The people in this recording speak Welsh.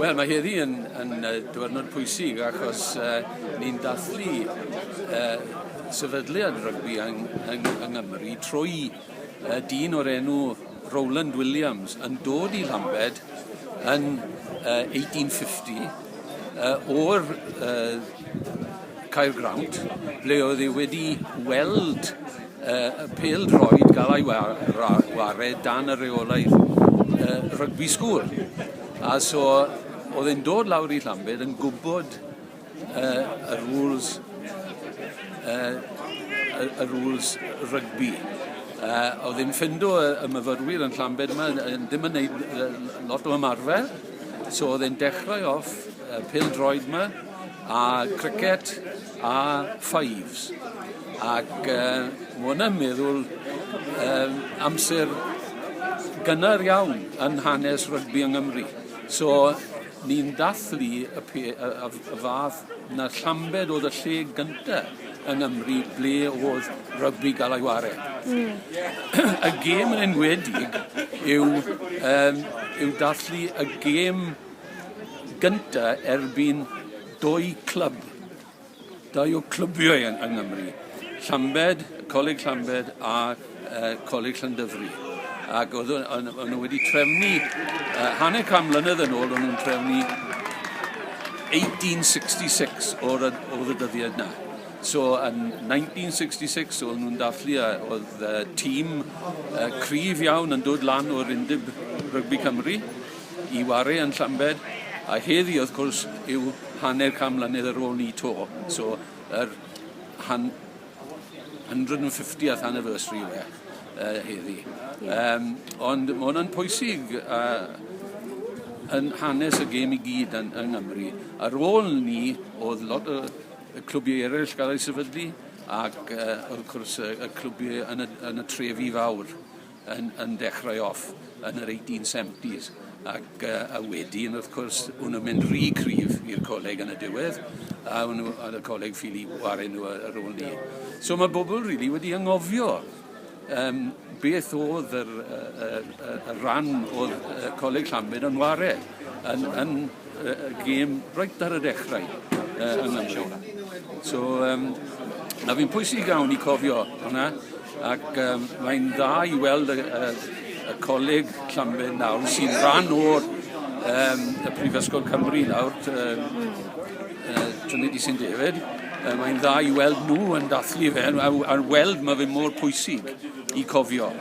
Wel, mae heddi yn, yn uh, diwrnod pwysig achos uh, ni'n dathlu uh, sefydliad rygbi yng, yng, yng Nghymru trwy uh, dyn o'r enw Roland Williams yn dod i Lambed yn uh, 1850 uh, o'r uh, Caergrawnt, ble oedd hi wedi weld uh, y pel droed gael ei wared dan y reolaidd uh, rygbi sgŵl. A so oedd e'n dod lawr i Llambed yn gwybod uh, y rules uh, y rules rygbi. Uh, oedd e'n ffendo y, y myfyrwyr yn Llambed yma, ddim yn gwneud lot o ymarfer, So oedd e'n dechrau off y pêl-droed 'ma a cricet a fives ac yy ma' wnna'n meddwl yym amser gynnar iawn yn hanes rygbi yng Nghymru. So ni'n dathlu y pe- y y f- y fath 'na llambed o'dd y lle gynta. yn Nghymru ble o'dd rygbi ga'l ei ware. Hmm. y gêm yn enwedig yw yym yw dathlu y gêm gynta erbyn dwy clwb. Dau o clybiau yn yng Nghymru. Llambed, Coleg Llambed a uh, Coleg Llandyfri. Ac oedd nhw wedi trefnu, uh, hanner can mlynedd yn ôl, oedd nhw'n trefnu 1866 o'r, oedd y dyddiad na. So, yn 1966, oedd nhw'n dathlu a oedd uh, tîm uh, cryf iawn yn dod lan o'r undeb rygbi Cymru i wario yn Llambed. A heddi, wrth gwrs, yw hanner cam mlynedd ar ôl ni to. So, yr han, 150th anniversary yw e uh, heddi. Yeah. Um, ond mae hwnna'n pwysig uh, yn hanes y gêm i gyd yn, yng Nghymru. Ar ôl ni, oedd lot o y clwbiau eraill gael ei sefydlu ac uh, wrth gwrs y, y clwbiau yn y, yn y trefi fawr. yn yn dechrau off yn yr eighteen seventies ac yy a wedyn wrth cwrs o'n nw'n mynd rhy cryf i'r coleg yn y diwedd a o'n nw ar y coleg ffili wario nw yy ar ôl 'ny. So ma' bobol rili wedi angofio yym beth o'dd yr yy yr yy y ran o'dd yy Coleg Llanbed yn ware yn yn y gêm reit ar y dechrau uh, yng Nghymru. So, um, na fi'n pwysig iawn i cofio hwnna, ac um, mae'n dda i weld y, y, y coleg Llanbed nawr sy'n rhan o'r um, y Prifysgol Cymru nawr, um, uh, Trinity St David, uh, mae'n dda i weld nhw yn dathlu fe, a, a weld mae fe mor pwysig i cofio.